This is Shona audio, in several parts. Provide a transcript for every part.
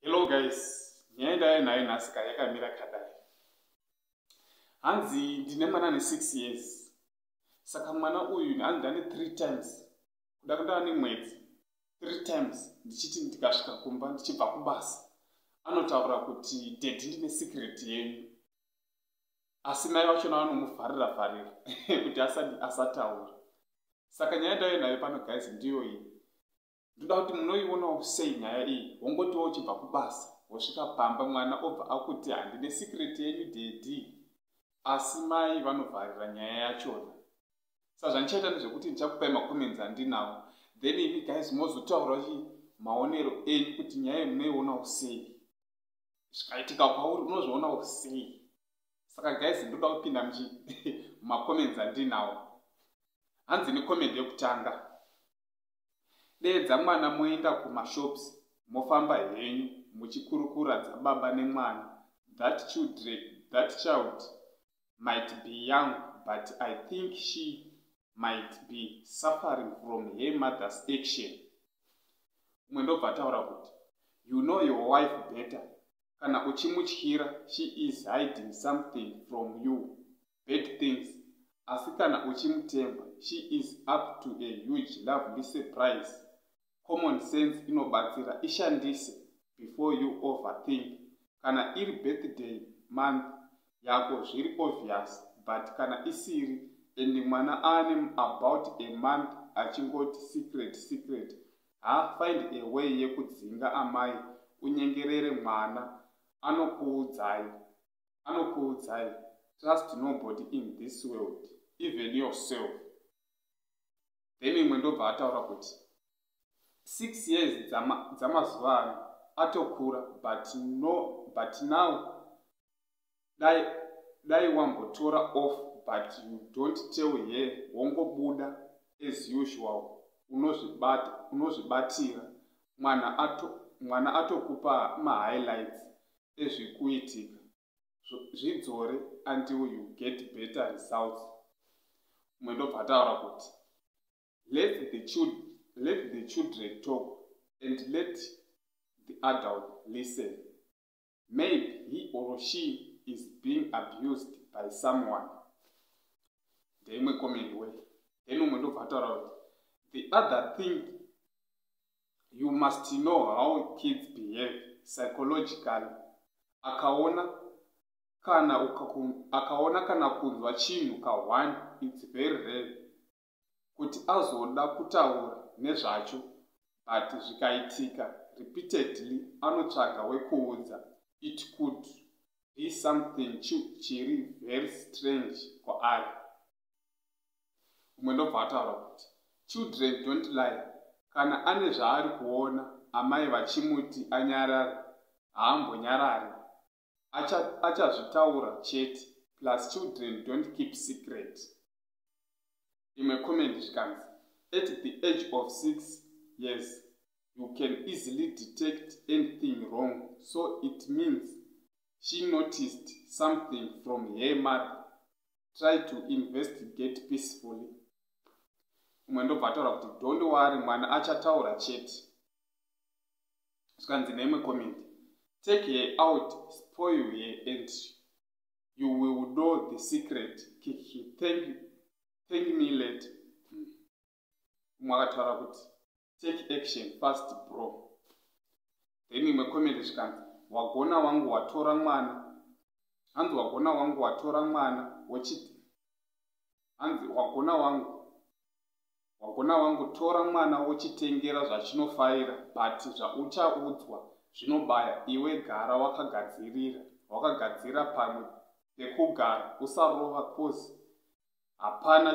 Hello guys, nyaya yendaya nayo nhasi ka yakamira kadai. Hanzi ndine mwana ane 6 years. Saka mwana uyu hanzi ndane 3 times. Kuda kundava nemwedzi 3 times ndichiti ndikasvika kumba ndichibva kubasa. Anotaura kuti daddy ndine secret yenyu. asi mai vachona vanomuvharira vharira kuti asataura saka nyaya ndave nayo pano guys ndiyo iyi ndoda kuti munoionawo sei nyaya iyi wongotiwo uchibva kubasa wosvika pamba mwana obva akuti handine sikreti yenyu dedi asi mai vanovharira nyaya yachona sazvandichaita nezvekuti ndichakupai macomments andinawo then imi guys mozotaura chi maonero enyu kuti nyaya iyi munoionawo sei zvikaitika kwauri unozviona usei saka guys ndoda kupinda muchi macomments andinawo hanzi necomment yekutanga deedza mwana moenda kumashops mofamba henyu muchikurukura dzababa nemwana that children that child might be young but i think she might be suffering from her mother's action umwe ndobva ataura kuti you know your wife better kana uchimutyira she is hiding something from you bad things asi kana uchimutemba she is up to a huge lovely surprise common sense inobatsira ishandise before you overthink kana iri birthday month yako zviri obvious but kana isiri and mwana aane about a month achingoti secret secret ha find a way yekudzinga amai unyengerere mwana anokuudzai anokuudzai trust nobody in this world even yourself then imwe ndobva ataura kuti six years dzamazuva ano atokura but no but now dai dai wambotora off but you don't tell her wongobuda as usual unozvibata unozvibatira mwana ato mwana atokupa mahighlights ezvikuitika zvidzore until you get better results mwe ndobva ataura kuti let the, chil let the children talk and let the adult listen maybe he or she is being abused by someone ndeimwe comment way then umwe ndobva ataura kuti the other thing you must know how kids behave psychologically akaona kana akaona kana kunzwa chinhu kahwani its very rare kuti azoda kutaura nezvacho but zvikaitika repeatedly anotsvaga wekuudza it could be something chiri very strange kwaari umwe ndobva ataura kuti children don't lie kana ane zvaari kuona amai vachimuti anyarare haambonyarare achazvitaura acha chete plus children don't keep secret imwe comment zvikanzi at the age of six years you can easily detect anything wrong so it means she noticed something from her mother try to investigate peacefully umwe ndobva ataura kuti don't worry mwana achataura chete zvikanzi neimwe comment take her out spoil her and you will know the secret kiki thank, thank me late umwe akataura kuti take action fast bro then imwe comment zvikanzi wagona wangu watora mwana hanzi wagona wangu watora mwana wochiti hanzi wagona wangu wagona wangu tora mwana wochitengera zvachinofaira but zvauchaudzwa zvinobaya iwe gara wakagadzirira wakagadzira pamwe pekugara usarova kozi hapana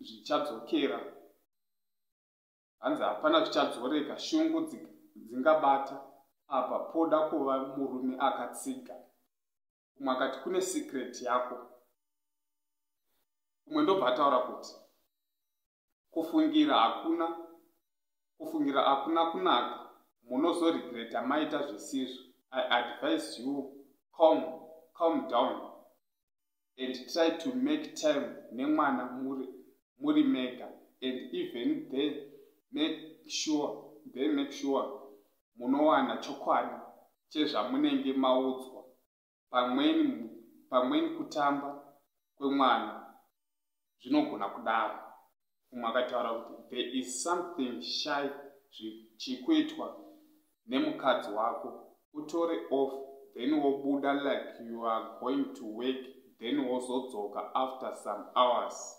zvichadzokera hanzi hapana zvichadzoreka shungu dzingabata apa poda kuva murume akatsiga umwe akati kune secret yako umwe ndobva ataura kuti kufungira hakuna kufungira hakuna kunaka munozoregreta maita zvisizvo i advise you calm calm down and try to make time nemwana muri, muri mega and even they make sure they make sure munowana chokwadi chezvamunenge maudzwa pamweni pamweni kutamba kwemwana zvinogona kudaro umwe akataura kuti there is something shy zvichikuitwa nemukadzi wako utore off then wobuda like you are going to work then wozodzoka after some hours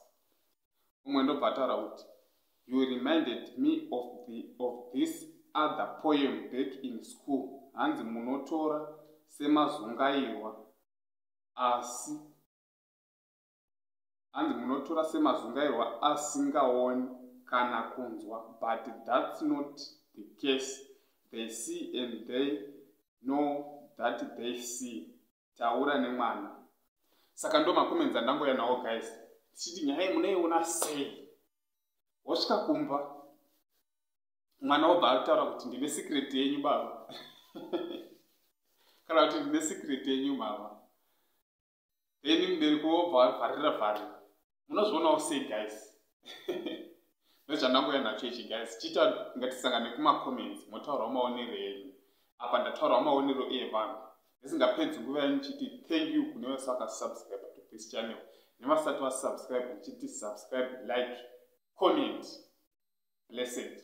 umwe ndobva ataura kuti you reminded me of, the, of this other poem back in school hanzi munotora semazungairwa asi hanzi munotora semazungairwa asingaoni kana kunzwa but thats not the case they see and they know that they see taura nemwana saka ndo makomenti andangouya nawo guys tichiti nyaya iyi munoiona sei wosvika kumba mwana wobva ataura kuti ndine secret yenyu baba kana kuti ndine secret yenyu mama then mubereki wobva avharira vharira munozvionawo sei guys ndozvandangoya nacho ichi guys chiita ngatisangane kumacomments motaurawo maonero enyu apa ndataurawo maonero evanhu ndisingapedzi nguva yenyu chiti thank you kune vese vakasubscribe to this channel nevasati vasubscribe ndichiti subscribe like comment blessed